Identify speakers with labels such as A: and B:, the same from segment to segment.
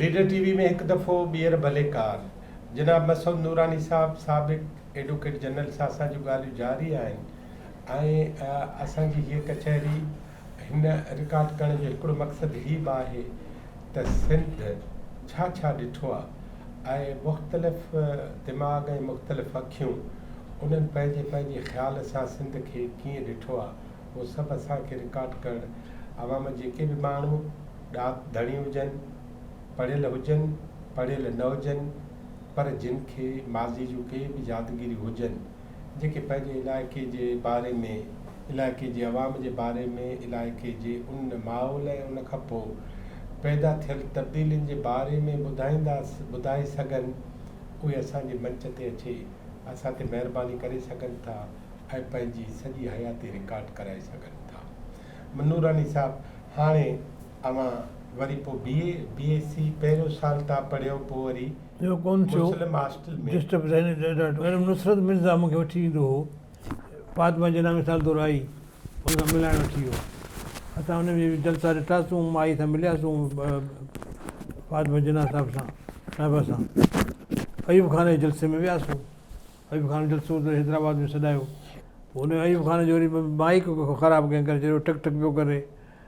A: Leader T V ۾ هڪ دفعو ٻيهر ڀلي ڪار. جناب مسعود نوراني صاحب سابق ايڊوڪيٽ جنرل سان اسان جون ڳالهيون جاري آهن ۽ اسان جي هيء ڪچهري هن رڪارڊ ڪرڻ جو هڪڙو مقصد هي به آهي ته سنڌ ڇا ڇا ڏٺو آ. اهي مختلف دماغ ۽ مختلف اکيون، انهن پنهنجي پنهنجي خيال سان سنڌ کي ڪيئن ڏٺو آ، اهو سڀ اسان کي رڪارڊ ڪرڻ عوام جيڪي به ماڻهو ڏات ڌڻي هجن، پڙهيل هجن، پڙهيل نه هجن پر جن کي ماضي جون ڪي به يادگيريون هجن، جيڪي پنهنجي علائقي جي باري ۾، علائقي جي عوام جي باري ۾، علائقي جي ان ماحول ۽ ان کانپوء پيدا ٿيل تبديلين جي باري ۾ ٻڌائيندا ٻڌائي سگهن، اهي اسان جي منچ تي اچي اسان تي مهرباني ڪري سگهن ٿا ۽ پنهنجي سڄي حياتي رڪارڊ ڪرائي سگهن ٿا. نوراني صاحب هاڻي. اوهان وري پو بي اي بي ايس سي پهريون سال تان پڙهيو پو وري ٻيو ڪون ٿيو مسلم هاسٽل ۾ ڊسٽرب ذهني ڏاڍو ميڊم نصرت مرزا
B: مونکي وٺي ايندو هو فاطمه جناح مثال طور آئي ان سان ملائڻ وٺي ويو اسان ان جي جلسا ڏٺا سون مائي سان مليا سون فاطمه جناح صاحب سان صاحبه سان ايوب خان جي جلسي ۾ ويا سون ايوب خان جلسو ته حيدرآباد ۾ سڏايو پو ان ايوب خان جو وري مائيڪ خراب ڪنهن ڪري ڇڏيو ٺڪ ٺڪ پيو ڪري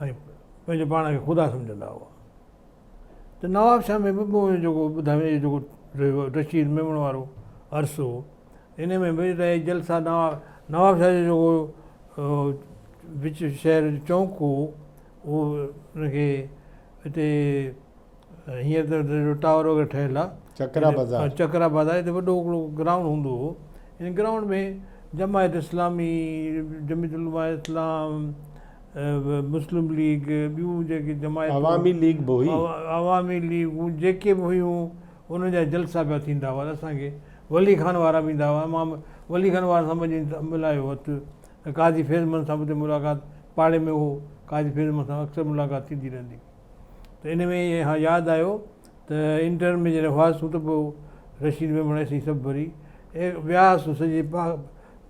B: ۽ پنهنجو پاڻ کي خدا سمجهندا هئا ته نوابشاهه ۾ به پوء جيڪو ٻڌايو وڃي جيڪو رشيد ميمڻ وارو عرصو هو ان ۾ به رهي جلسا نواب نوابشاهه جو جيڪو وچ شهر جو چونڪ هو اهو ان کي هتي هينئر ته ٽاور وغيره ٺهيل آ. چڪرا بازار. چڪرا بازار هتي وڏو هڪڙو گرائونڊ هوندو هو ان گرائونڊ ۾ جماعت اسلامي، جميعت علماء اسلام، مسلم ليگ ٻيون جيڪي جماعتون عوامي ليگ به هئي.
A: عوامي ليگون
B: جيڪي به هيون انهن جا جلسا پيا ٿيندا هئا ته اسان کي ولي خان وارا به ايندا هئا امام ولي خان وارن سان وڃي ملايو اٿ قاضي فيض محمد سان به اتي ملاقات پاڙي ۾ هو قاضي فيض محمد سان اڪثر ملاقات ٿيندي رهندي هئي. ته ان ۾ ئي اھا ياد آيو ته انٽر ۾ جڏھن ھئاسون ته پوء رشيد ميمڻ اسين سڀ وري وياسون سڄي پا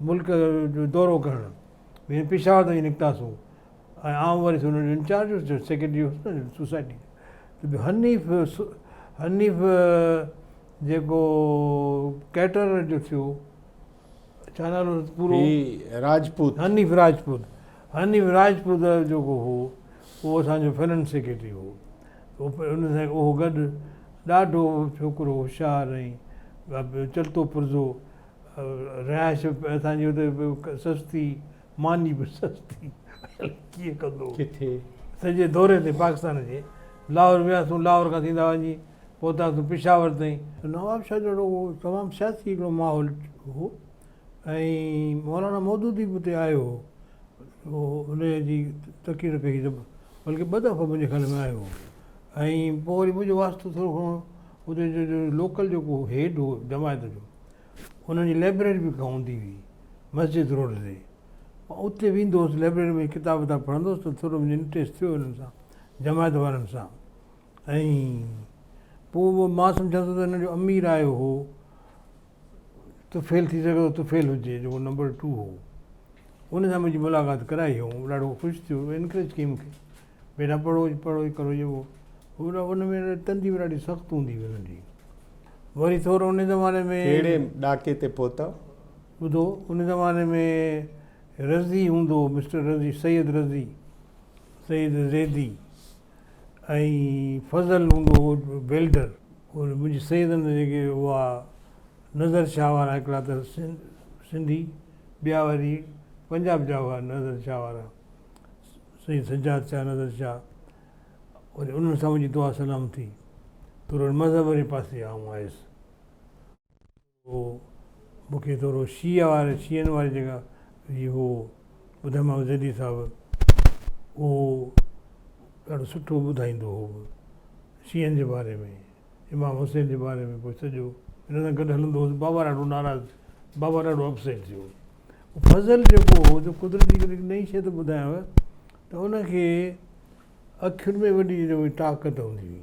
B: ملڪ جو دورو ڪرڻ ۽ پشاور تائين نڪتاسون ۽ آئون وري ان جو انچارج ھوس جو سيڪريٽري ھوس نه سوسائٽي جو ته حنيف حنيف جيڪو ڪيٽرر جو ٿيو هي راجپوت حنيف راجپوت حنيف راجپوت جيڪو هو اهو اسان جو فننس سيڪريٽري هو ان سان اهو گڏ ڏاڍو ڇوڪرو هوشيار ۽ چلتو پرزو رهائش اسان جي اتي سستي ماني به سستي الائي ڪيئن ڪندو هو سڄي
A: دوري
B: تي پاڪستان جي لاهور وياسون لاهور کان سيدا وڃي پهتا ته پشاور تائين. نواب شاهه جهڙو اهو تمام سياسي هڪڙو ماحول هو ۽ مولانا مودودي به اتي آيو هو انهيء جي تقرير پئي هئي ته بلڪه ٻه دفعا منهنجي خيال ۾ آيو هو ۽ پوء وري منهنجو واسطو ٿورو گهڻو اتي جو جو لوڪل جيڪو هيڊ هو جماعت جو انهن جي لئبرري به ڪا هوندي هئي مسجد روڊ تي مان اتي ويندو هوس لئبرري ۾ ڪتاب وتاب پڙهندو هوس ته ٿورو منهنجو انٽريسٽ ٿيو انهن سان جماعت وارن سان. ۽ پوء به مان سمجهان ٿو ته هن جو امي رايو هو ته فيل ٿي سگهي ٿو ته فيل هجي جيڪو نمبر ٽو هو ان سان منهنجي ملاقات ڪرائي هو هو ڏاڍو خوش ٿيو انڪريج ڪيائين مون کي بيٽا پڙهو پڙهو هي ڪرو يو هو ان ۾ تندي به ڏاڍي سخت هوندي هئي انهن جي وري ٿورو ان زماني ۾ ڪهڙي ڏاڪي تي
A: پهتا ٻڌو
B: ان زماني ۾ رضي هوندو هو مسٽر رضي سيد رضي سيد زيدي ۽ فضل هوندو هو بلڊر منهنجي سيد هوندو جيڪي هئا نظر شاهه وارا هڪڙا ته سنڌي ٻيا وري پنجاب جا هئا نظر شاهه وارا سيد سجاد شاهه نظر شاهه وري انهن سان منهنجي دعا سلام ٿي پر مذهب واري پاسي آئون آيس هو مون کي ٿورو شيعه واري شيعن واري جيڪا هي هو ٻڌم محمد زيدي صاحب اهو ڏاڍو سٺو ٻڌائيندو هو شيعن جي باري ۾ امام حسين جي باري ۾ پوء سڄو ان سان گڏ هلندو هوس بابا ڏاڍو ناراض ٿيو بابا ڏاڍو اپسيٽ ٿيو فضل جيڪو هو جو قدرتي ڪري نئي شيء ٿو ٻڌايانو ته ان کي اکين ۾ وڏي طاقت هوندي هئي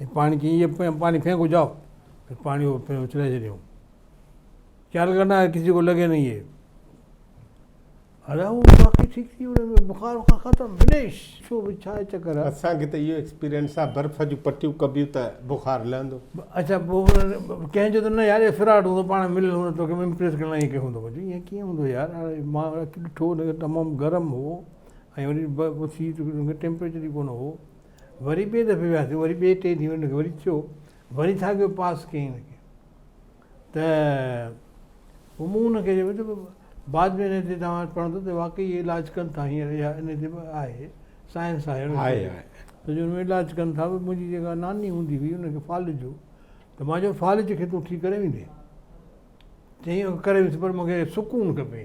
B: ۽ پاڻي چيائين يي پاني ڦينڪو جائو ۽ پاڻي اڇلائي ڇڏيائون چل ورنا ڪسي ڪو لڳي نهين يي الاهو باقي ٺيڪ ٿي ويو هن جو بخار وخار ختم فنش ڇو ڀي ڇا چڪر آهي اسان کي ته اهو ايڪسپيرينس
A: آهي برف جون پٽيون ڪبيون ته بخار لهندو اڇا پوء
B: ڪنهن چيو ته نه يار اهو فراڊ هوندو پاڻ مليل هوندو توکي امپريس ڪرڻ لاء ائين ڪيو هوندو مون چيو ائين ڪيئن هوندو يار هاڻي مان اکين ڏٺو هو تمام گرم هو ۽ وري ٽيمپريچر ئي ڪونه هو وري ٻئي دفعي وياسين وري ٻئي ٽئين ڏينهن ان کي وري چيو وري ساڳيو پاس ڪيائين ان کي ته پوء مون ان کي چيو ته بعد ۾ ان تي توهان پڙهندو ته واقعي اهي علاج ڪن ٿا هينئر اها ان تي به آهي سائنس آهي ان تي ته جو ان ۾ علاج ڪن ٿا منهنجي جيڪا ناني هوندي هئي ان کي فالج هو ته مان چيو فالج کي تون ٺيڪ ڪري ويندين چيائين اهو ڪري ويس پر مون کي سڪون کپي.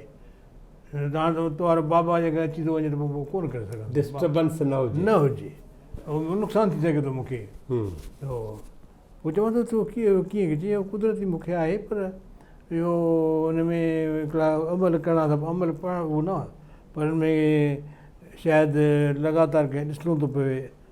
B: هاڻ ته تو وارو بابا جي گهر اچي ٿو وڃي ته پوء ڪو نه ڪري سگهندو. ڊسٽربنس
A: نه هجي. نه هجي. اهو نقصان
B: ٿي سگهي ٿو مون کي. اهو پوء چوان ٿو تو کي اهو ڪيئن ڪيو. چيائين اهو قدرتي مون کي آهي پر اهو ان ۾ هڪڙا عمل ڪرڻا اٿا پر عمل پڙهڻ اهو نه پر ان ۾ شايد لڳاتار ڪنهن ڏسڻو ٿو پوي.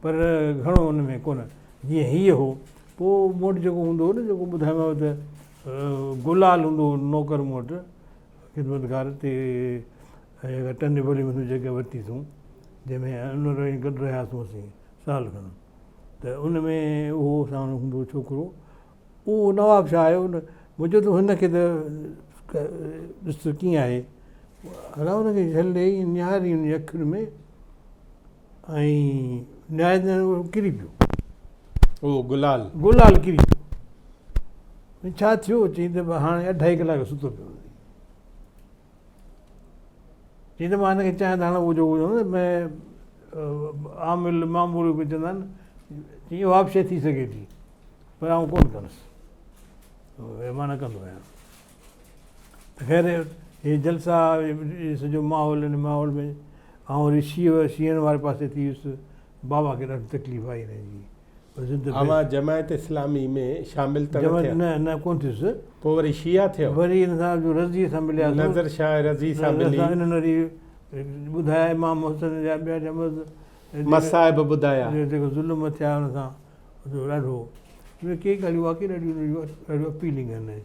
B: پر گهڻو ان ۾ ڪونه جيئن هيء هو. پوء مون وٽ جيڪو هوندو هو نه، جيڪو ٻڌايومانو ته گلال هوندو هو نوڪر مون وٽ، خدمتگار، تي جيڪا ٽن نيپولين ۾ جڳهه ورتي اٿئون، جنهن ۾ ان وٽ وڃي گڏ رهياسون اسين سال کن، ته ان ۾ اهو ساڻ هوندو هو ڇوڪرو، اهو نواب شاهه آيو نه، مون چيو ته هن کي ته ڏس ته ڪيئن آهي. الا ان کي جهل ڏيئي نهاريئي ان جي اکين ۾. ۽ نهايت ڪري پيو. اهو
A: گلال. گلال
B: ڪري پيو. ڇا ٿيو؟ چئي ته هاڻي اڍائي ڪلاڪ ستو پيو هوندي. چئي ته مان هن کي چاهيان ته هاڻي اهو جيڪو چوندو ۾ عامل معمول ڪجهه چوندا آهن چئي اها به شيء ٿي سگهي ٿي پر آئون ڪونه ڪندس. معنيٰ ڪندو آهيان. خير هي جلسا هي سڄو ماحول هن ماحول ۾ آئون وري شيء شيعن واري پاسي ٿي ويس بابا کي ڏاڍي تڪليف آئي هن جي زد ۾ اوهان
A: جماعت اسلامي ۾ شامل ته نه جماعت ٿيا نه نه ڪون
B: ٿيس پوء وري شيعا
A: ٿيو وري هن سان جو رضي
B: سان ملياسون نظر شاهه رضي
A: سان ملي رضا انهن وري
B: ٻڌايا امام حسن جا ٻيا جا مس مصائب
A: ٻڌايا جو جيڪو ظلم ٿيا
B: هن سان جو ڏاڍو مطلب ڪي ڳالهيون واقعي ڏاڍيون ڏاڍيون اپيلنگ آهن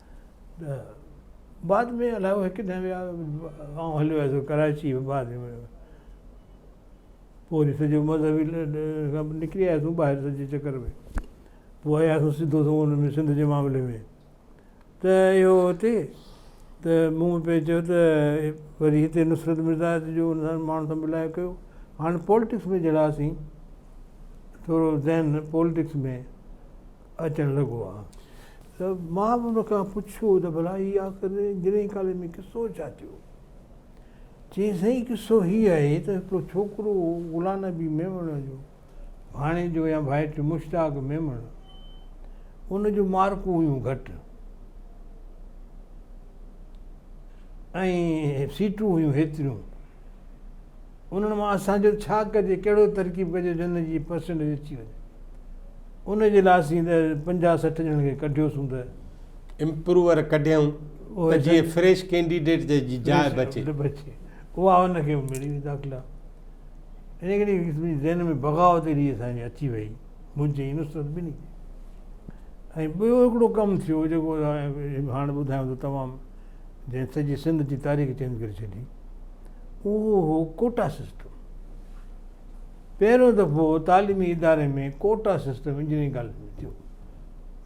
B: بعد ۾ الائي هو هڪ ڏينهن ويا آئون هليو ويس ڪراچي بعد ۾ پوء وري سڄو مذهبي کان نڪري آياسون ٻاهر سڄي چڪر ۾ پوء آياسون سڌو سنئون ان ۾ سنڌ جي معاملي ۾ ته اهو هتي ته مون پئي چيو ته وري هتي نصرت مرزا جو ان سان ماڻهن سان ملايو ڪيو هاڻي پولٽڪس ۾ جهڙاسين ٿورو ذهن پولٽڪس ۾ اچڻ لڳو ها ته مان به ان کان پڇيو ته ڀلا هي آخر گرين ڪاليج ۾ قصو ڇا ٿيو؟ چيائين سائين قصو هي آهي ته هڪڙو ڇوڪرو غلام نبي ميمڻ جو ڀاڻيجو يا ڀائٽ مشتاق ميمڻ ان جون مارڪون هيون گهٽ ۽ سيٽون هيون هيتريون انهن مان اسان جو ڇا ڪجي، ڪهڙو ترڪيب ڪجي جو ان جي پرسينٽيج اچي وڃي. ان جي لاء اسين ته پنجاهه سٺ ڄڻن کي ڪڍيوسون ته. امپروور
A: ڪڍيائون ته جيئن فريش ڪينڊيڊيٽ جي جاء بچي. اها
B: ان کي به ملي وئي داخلا. انهيء ڪري منهنجي ذهن ۾ بغاوت اهڙي اسان جي اچي وئي منهنجي ۽ نصرت ٻنهي جي. ۽ ٻيو هڪڙو ڪم ٿيو جيڪو هاڻ ٻڌايون ته تمام جنهن سڄي سنڌ جي تاريخ چينج ڪري ڇڏي اهو هو ڪوٽا سسٽم پهريون دفعو تعليمي اداري ۾ ڪوٽا سسٽم انجنيئرنگ ڪاليج ۾ ٿيو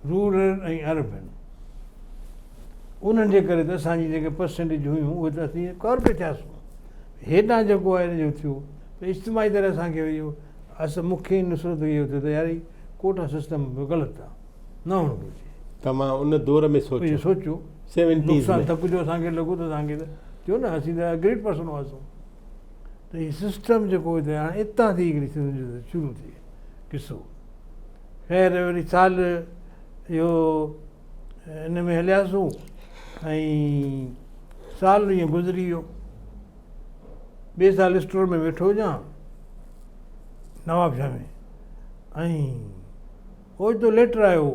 B: رورل ۽ اربن انهن جي ڪري ته اسان جي جيڪي پرسنٽيج هيون اهي ته اسين ڪارپي ٿياسون هيڏانهن جيڪو آهي ان جو ٿيو ته اجتماعي طرح اسانکي اهو اس مکي نصرت اهو ٿيو ته يار هي ڪوٽا سسٽم به غلط آهي نه هئڻو گهرجي. ته مان ان دور
A: ۾ سوچيو. اهو سوچيو.
B: سيونٽيز ۾.
A: ڌڪ جو اسان کي لڳو ته
B: اسان کي ته ٿيو نه اسين ته گريٽ پرسن هئاسون. ته هي سسٽم جيڪو هتي هاڻي اتان ٿي هڪڙي سنڌ جو شروع ٿئي قصو. خير وري سال اهو ان ۾ هلياسون ۽ سال ائين گذري ويو. ٻئي سال اسٽور ۾ ويٺو هجان نوابشاهه ۾ ۽ اوچتو ليٽر آيو هو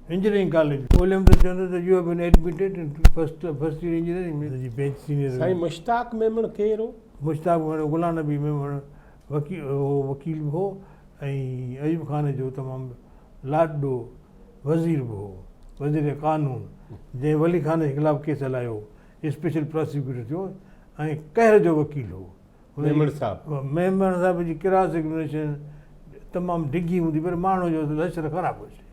B: انجنيئرنگ ڪاليج ۾ ڳولهيم ته چون ٿا ته you have been admitted in first first year engineering ۾ جي بينچ سينيئر هيو. سائين مشتاق
A: ميمڻ ڪير هو؟ مشتاق ميمڻ غلام
B: نبي ميمڻ وڪيل هو وڪيل به هو ۽ ايوب خان جو تمام لاڏلو وزير به هو وزير قانون جنهن ولي خان جي خلاف ڪيس هلايو اسپيشل پراسيڪيوٽر ٿيو ۽ قهر جو وڪيل هو. ميمڻ صاحب
A: ميمڻ صاحب جي ڪراس
B: ايگمينيشن تمام ڊگهي هوندي پر ماڻهو جو لشر خراب هجي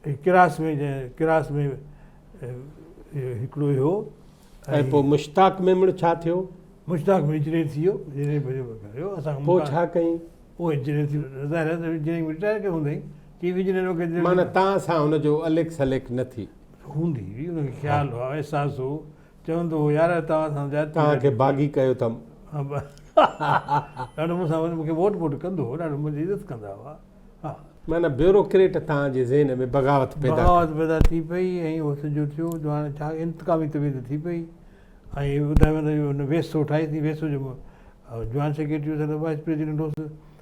B: هي ڪراس ۾ جنهن ڪراس ۾ هڪڙو هيو ۽ پوء
A: مشتاق ميمڻ ڇا ٿيو مشتاق ۾ انجنيئر
B: ٿي ويو انجنيئر بجي ڪريو اسان پوء ڇا ڪئين
A: پوء انجنيئر ٿي
B: ظاهر آهي انجنيئر رٽائر ڪيو هوندئي چي انجنيئر وغيرہ معنی تان سان
A: هن جو اليڪ سليڪ نه ٿي هوندي هئي ان
B: کي خيال هو احساس هو چوندو هو، يار توهان سان زيادتي ڪئي. توهان کي باغي
A: ڪيو اٿم.
B: ڏاڍو مون سان وڃي مون کي ووٽ ٻوٽ ڪندو هو، ڏاڍو منهنجي عزت ڪندا هئا. ها. معنيٰ بيوروڪريٽ
A: توهان جي ذهن ۾ بغاوت پيدا ڪئي. بغاوت پيدا ٿي پئي ۽
B: اهو سڄو ٿيو جو هاڻي ڇا انتقامي طبيعت ٿي پئي ۽ ٻڌايو ويندو هو جو هن ويسو ٺاهيسين، ويسو جو جوائنٽ سيڪريٽري هوس، وائيس پريزيڊنٽ هوس.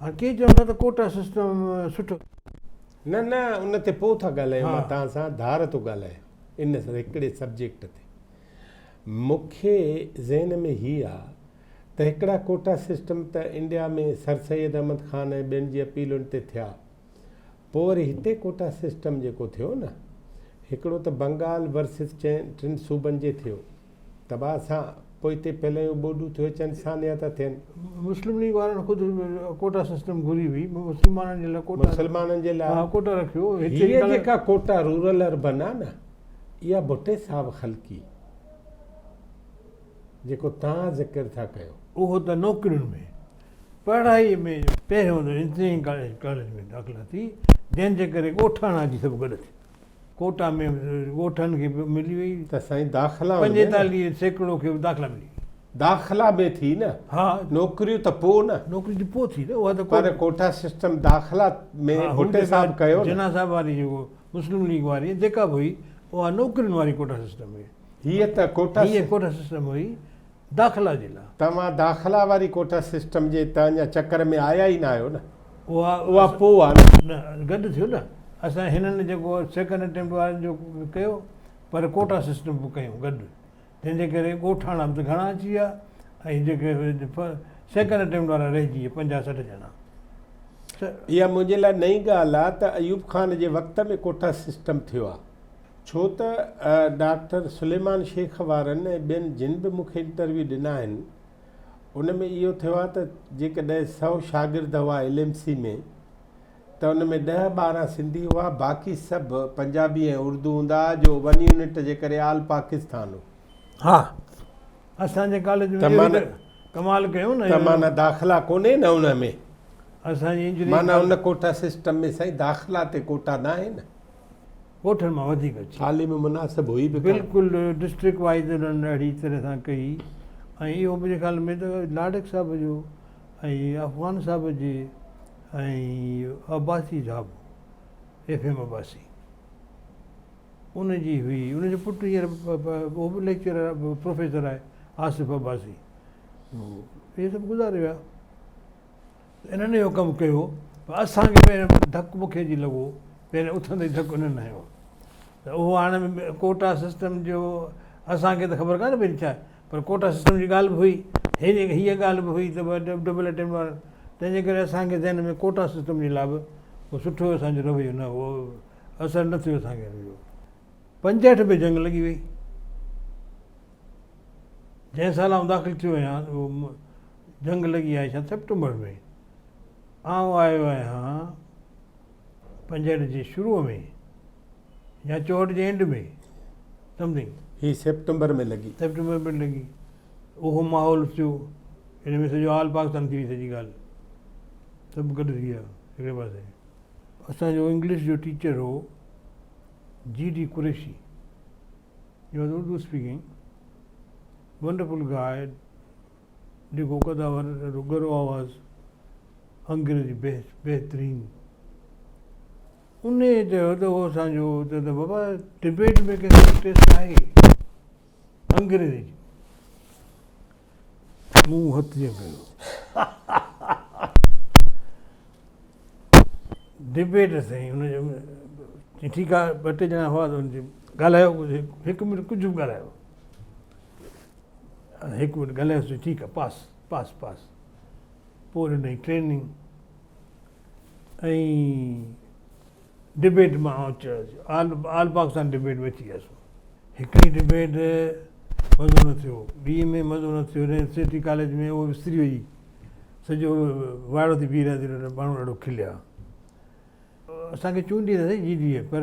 B: ها ڪي چون ٿا ته ڪوٽا سسٽم سٺو. نه
A: نه ان تي پوء ٿا ڳالهايون مان توهان سان ڌار ٿو ڳالهايان ان هڪڙي سبجيڪٽ تي مون کي ذهن ۾ هي آ ته هڪڙا ڪوٽا سسٽم ته انڊيا ۾ سر سيد احمد خان ۽ ٻين جي اپيلن تي ٿيا پوء وري هتي ڪوٽا سسٽم جيڪو ٿيو نه هڪڙو ته بنگال ورسز چئن ٽن صوبن جي ٿيو تباهه سان پوء هتي پهليون ٻوڏون ٿيو اچن سانحا ٿا ٿين. مسلم ليگ وارن
B: خود ڪوٽا سسٽم گهري هئي مسلمانن جي لاء ڪوٽا مسلمانن جي لاء ڪوٽا رکيو هتي هيء جيڪا
A: ڪوٽا رورل اربن آ نه اها ڀٽي صاحب خلقي جيڪو
B: توهان ذڪر
A: ٿا ڪيو.
B: اهو
A: ته نوڪرين
B: ۾ پڙهائي ۾ پهريون ته انجنيئرنگ ڪاليج ۾ داخلا ٿي، جنهن جي ڪري ڳوٺاڻا جي سڀ گڏ ٿي ڪوٽا ۾ ڳوٺن کي به ملي وئي. ته سائين داخلا ان
A: ۾ نه. پنجيتاليهه سيڪڙو
B: کي به داخلا ملي وئي. داخلا ۾
A: ٿي نه. ها. نوڪريون
B: ته پوء
A: نه. نوڪري ته پوء ٿي نه اها
B: ته. پر ڪوٽا سسٽم
A: داخلا ۾ ها هو ڀٽي صاحب ڪيو نه. جناح صاحب واري جيڪو
B: مسلم ليگ واري جيڪا به هئي اها نوڪرين واري ڪوٽا سسٽم هئي. هيء ته ڪوٽا.
A: هيء ڪوٽا سسٽم هئي
B: داخلا جي لاء. توهان داخلا واري
A: ڪوٽا سسٽم جي ته اڃا چڪر ۾ آيا ئي نه آهيو نه. اها پوء
B: آ نه. نه
A: گڏ ٿيو نه.
B: اسان هنن جيڪو سيڪنڊ اٽيمپٽ وارن جو به ڪيو پر ڪوٽا سسٽم به ڪيون گڏ. تنهن جي ڪري ڳوٺاڻا به ته گهڻا اچي ويا ۽ جيڪي سيڪنڊ اٽيمپٽ وارا رهجي ويا پنجاهه سٺ ڄڻا. اها
A: منهنجي لاء نئين ڳالهه آ ته ايوب خان جي وقت ۾ ڪوٽا سسٽم ٿيو آ. ڇو ته ڊاڪٽر سليمان شيخ وارن ۽ ٻين جن به مون کي انٽرويو ڏنا آهن ان ۾ اهو ٿيو آهي ته جيڪڏهن سؤ شاگرد هئا ايل ايم سي ۾ ته ان ۾ ڏهه ٻارهن سنڌي هئا باقي سڀ پنجابي ۽ اردو هوندا هئا جو ون يونٽ جي ڪري آل پاڪستان هو ها
B: اسان جي ڪاليج ۾ اهو ته ڪمال ڪيو نه ته معنيٰ داخلا ڪونهي
A: نه ان ۾ اسان جي انجنيئرنگ
B: معنيٰ ان ڪوٽا
A: سسٽم ۾ سائين داخلا تي ڪوٽا ناهي نه ڳوٺن
B: مان وڌيڪ اچي ٿالهي ۾ مناسب هئي
A: به ڪانه. بلڪل ڊسٽرڪٽ
B: وائيز انهن اهڙي طرح سان ڪئي ۽ اهو منهنجي خيال ۾ ته لاڙڪ صاحب جو ۽ افغان صاحب جي ۽ عباسي صاحب ايف ايم عباسي ان جي هئي ان جو پٽ هينئر اهو به ليڪچرر پروفيسر آهي آصف عباسي اهي سڀ گذاري ويا. انهن اهو ڪم ڪيو پر اسان کي پهريان ڌڪ مونکي جي لڳو پهريان اٿندي ئي ڌڪ انهن هنيو ته اهو هاڻي ڪوٽا سسٽم جو اسان کي ته خبر ڪانهي پهرين ڇا پر ڪوٽا سسٽم جي ڳالهه به هئي هيء هيء ڳالهه به هئي ته ڊبل اٽيمپٽ وارن تنهن جي ڪري اسان کي ذهن ۾ ڪوٽا سسٽم جي لاء به ڪو سٺو اسان جو رويو نه هو اثر نه ٿيو اسان کي ان جو پنجهٺ ۾ جنگ لڳي وئي جنهن سال آئون داخل ٿيو آهيان جنگ لڳي آهي ڇا سيپٽمبر ۾؟ آئون آيو آهيان پنجهٺ جي شروع ۾ يا چوهٺ جي اينڊ ۾ سمٿنگ. هي سيپٽمبر
A: ۾ لڳي. سيپٽمبر ۾ لڳي.
B: اهو ماحول ٿيو. ان ۾ سڄو آل پاڪستان ٿي وئي سڄي ڳالهه. سڀ گڏ ٿي ويا هڪڙي پاسي. اسان جو انگلش جو ٽيچر هو G D Qureshi. He was Urdu speaking wonderful guy. نگو قداور ڏاڍو ڳرو آواز انگريزي بيسٽ بهترين انهي چيو ته هو اسان جو چيو ته بابا ڊبيٽ ۾ ڪنهن کي انٽريسٽ آهي انگريزي مون هٿ جيئن ڪيو ڊبيٽ سائين ان جو ٺيڪ آهي ٻه ٽي ڄڻا هئا ته ان جي ڳالهايو هڪ منٽ ڪجهه به ڳالهايو هڪ منٽ ڳالهايانس ٿي ٺيڪ آ پاس پاس پاس پوء ڏنائين ٽريننگ ۽ ڊبيٽ مان آئون چيس آل آل پاڪستان ڊبيٽ ۾ اچي ويس هڪڙي ڊبيٽ مزو نه ٿيو ٻي ۾ مزو نه ٿيو هن سٽي ڪاليج ۾ اهو استري هئي سڄو وائڙو ٿي بيهي رهيا ماڻهو ڏاڍو کليا اسان کي چونڊي نه سگهي جي ڊي اي پر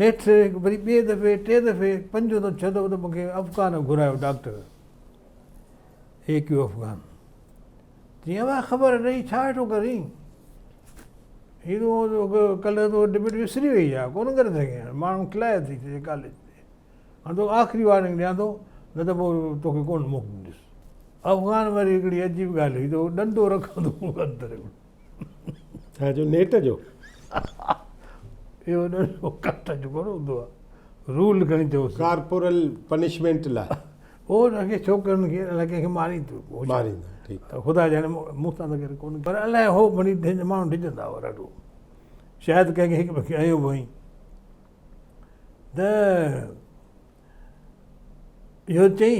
B: نيٺ وري ٻئي دفعي ٽئين دفعي پنجون ته ڇهه دفعو ته مون کي افغان گهرايو ڊاڪٽر اي ڪيو افغان چي اوهان خبر رهي ڇا هيٺون ڪرين هي تو ڪلهه تو ڊبيٽ وسري وئي آ ڪونه ڪري سگهين هاڻ ماڻهو کلائي ٿي چي ڪاليج تي هاڻ تو آخري وارننگ ڏيان ٿو نه ته پوء توکي ڪونه موڪليندس افغان وري هڪڙي عجيب ڳالهه هي ته ڏنڊو رکندو هو اندر هڪڙو
A: ڇا جو نيٽ جو
B: اهو ڏنو ڪاٽ جو ڪونه هوندو آهي رول کڻي چوس ڪارپورل
A: پنشمنٽ لاء او ان کي
B: ڇوڪرن کي الاء ڪنهن کي مارين ٿو مارين ٺيڪ
A: خدا جاڻي مون
B: سان ته ڪونه پر الاء هو مني ماڻهو ڊڄندا هو ڏاڍو شايد ڪنهن کي هڪ ٻئي کي ايو به هئي ته اهو چئي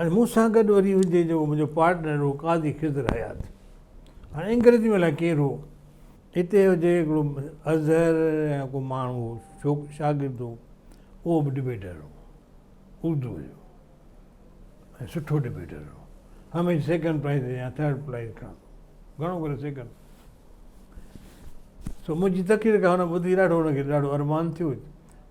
B: ۽ مون سان گڏ وري هجي جو منهنجو پارٽنر هو قاضي خضر حيات هاڻي انگريزي ۾ الائي ڪير هو هتي هجي هڪڙو اظهر يا ڪو ماڻهو هو شاگرد هو اهو به ڊبيٽر هو اردو جو ۽ سٺو ڊبيٽر هو هميشه سيڪنڊ پرائز يا ٿرڊ پرائز کڻندو گهڻو ڪري سيڪنڊ سو منهنجي تقرير کان هن ٻڌي ڏاڍو هن کي ڏاڍو ارمان ٿيو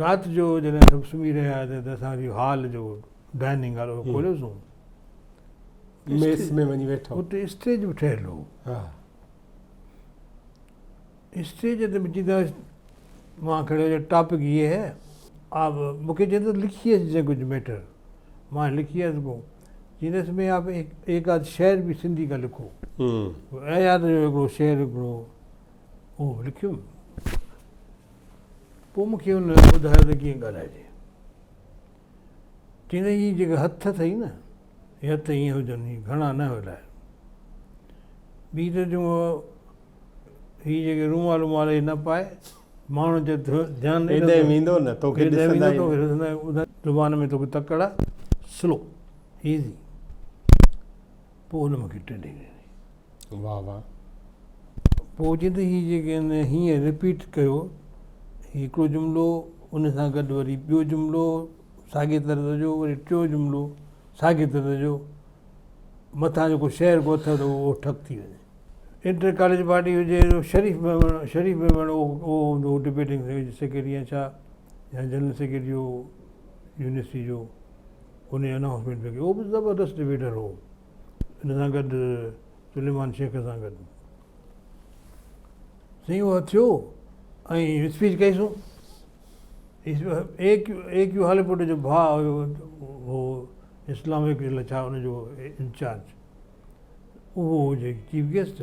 B: رات جو جڏهن سڀ سمهي رهيا هئا ته اسان ويو هال جو ڊائننگ هال اهو کوليوسون
A: ميس ۾ وڃي ويٺو اتي اسٽيج به ٺهيل
B: هو
A: ها
B: اسٽيج تي به چيندو مان کڙو جو ٽاپڪ هي هي آپ مون کي چيندو لکي اچ جي ڪجهه ميٽر مان لکي آيس ڪو چيندس ۾ آپ ايڪ آڌ شعر به سنڌي کا لکو اي ياد جو هڪڙو شعر هڪڙو اهو لکيم پوء مون کي هن ٻڌايو ته ڪيئن ڳالهائجي. چيائين هي جيڪي هٿ اٿئي نه، هي هٿ ائين هجن، هي گهڻا نه هلائي. ٻي ته تون هي جيڪي رومال وومال هي نه پائي، ماڻهو جي ڌيان ڏيندو ته ويندو نه، توکي
A: ڏسندا ئي نه.
B: زبان ۾ توکي تڪڙ آ، سلو، ايزي. پوء هن مون کي ٽيلهي ڏني. واه واه پوء جد هي جيڪي ان هيئن رپيٽ ڪيو هڪڙو جملو ان سان گڏ وري ٻيو جملو ساڳي طرز جو وري ٽيو جملو ساڳي طرز جو مٿان جيڪو شعر ڪو اٿئي ٿو اهو ٺپ ٿي وڃي انٽر ڪاليج پارٽي هجي شريف ميمڻ شريف ميمڻ اهو اهو هوندو هو ڊبيٽنگ سيڪريٽري يا ڇا يا جنرل سيڪريٽري هو يونيورسٽي جو ان جي انائونسمينٽ پئي ڪري اهو به زبردست ڊبيٽر هو ان سان گڏ سليمان شيخ سان گڏ سائين اهو ٿيو ۽ اسپيچ ڪئيسون اي ڪيو اي ڪيو هاليپوٽ جو ڀاء هيو هو اسلامڪ جي لاء ڇا ان جو انچارج اهو هو جي چيف گيسٽ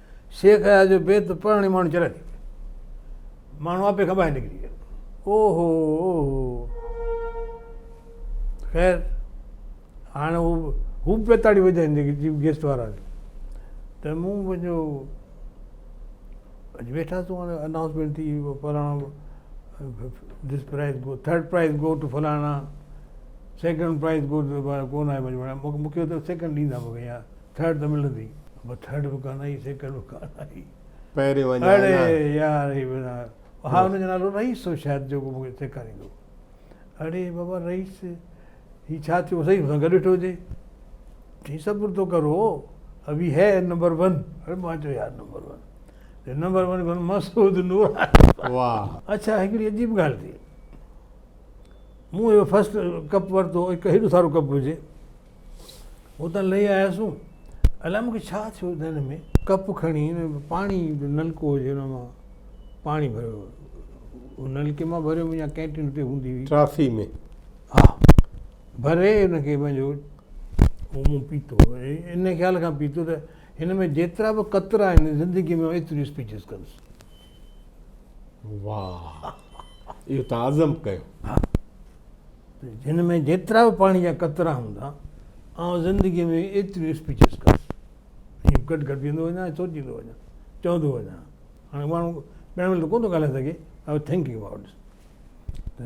B: شيخ اياز جو بيت پڙهڻ ئي ماڻهو چريا ٿي ويا. ماڻهو آپي کان ٻاهر نڪري ويا. او هو او هو. خير هاڻي هو هو به پيا تاڙيون وڄائين جيڪي چيف گيسٽ وارا آهن ته مون پنهنجو اڄ ويٺا سون هاڻي انائونسمينٽ ٿي فلاڻو this prize go third prize go to فلاڻا سيڪنڊ پرائز گو ٽو ڪو نه آهي مون کي سيڪنڊ ڏيندا مون کي ٿرڊ ته ملندي پر ٿرڊ به ڪانه آئي سيڪنڊ به ڪانه
A: آئي پهريون
B: اڃا اڙي نه يار هي به نه ها هن جو نالو رئيس هو شايد جيڪو مون کي سيکاريندو اڙي بابا رئيس هي ڇا ٿيو سائين مون سان گڏ ويٺو هجي چي صبر تو ڪرو ابي هي نمبر ون اڙي مان چيو يار نمبر ون چي نمبر ون ڪون مسعود نوراني واهه اڇا
A: هڪڙي عجيب
B: ڳالهه ٿي مون اهو فرسٽ ڪپ ورتو هڪ هيڏو سارو ڪپ هجي اتان لهي آياسون الائي مونکي ڇا ٿيو ذهن ۾ ڪپ کڻي پاڻي جو نلڪو هجي ان مان پاڻي ڀريو نلڪي مان ڀريو يا ڪينٽين تي هوندي هئي ٽرافي ۾
A: ها
B: ڀري ان کي پنهنجو مون پيتو ان خيال کان پيتو ته هن ۾ جيترا به قطرا آهن زندگي ۾ ايتريون اسپيچز ڪندس واهه
A: اهو ته عزم ڪيو.
B: ها جن ۾ جيترا به پاڻي جا قطرا هوندا آئون زندگي ۾ ايتريون اسپيچز ڪندس ائين گڏ گڏ ويندو وڃان ۽ سوچيندو وڃان چوندو وڃان هاڻي ماڻهو پهرين مهل ته ڪونه ٿو ڳالهائي سگهي آئي واز ٿنڪنگ اباؤٽ ته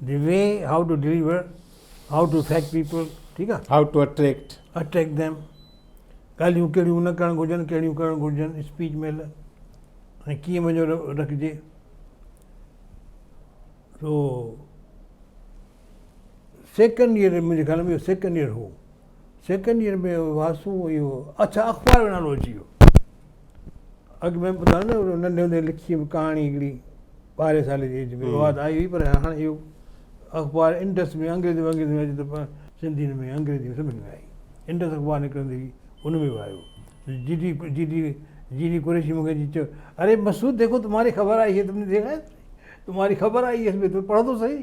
B: The way how to deliver, how to attract people ٺيڪ آ. How to attract.
A: Attract them
B: ڳالهيون ڪهڙيون نه ڪرڻ گهرجن ڪهڙيون ڪرڻ گهرجن اسپيچ مهل ۽ ڪيئن وڃو رکجي سو سيڪنڊ ايئر منهنجي خيال ۾ اهو سيڪنڊ ايئر هو سيڪنڊ ايئر ۾ واسو اهو اڇا اخبار جو نالو اچي ويو اڳ ۾ ٻڌايو نه ننڍي هوندي لکي هئم ڪهاڻي هڪڙي ٻارهين سالي جي ايج ۾ واد آئي هئي پر هاڻي اهو اخبار انڊس ۾ انگريزي وانگريزي ۾ اچي ته سنڌي ۾ انگريزي ۾ سڀني ۾ آئي انڊس اخبار نڪرندي هئي ان ۾ به آيو G D G D G D Qureshi مون کي اچي چيو اري مسعود ديکو تمهاري خبر آئي هي تم نه ديکا تمهاري خبر آئي هي اس مين تم پڙهو ته صحيح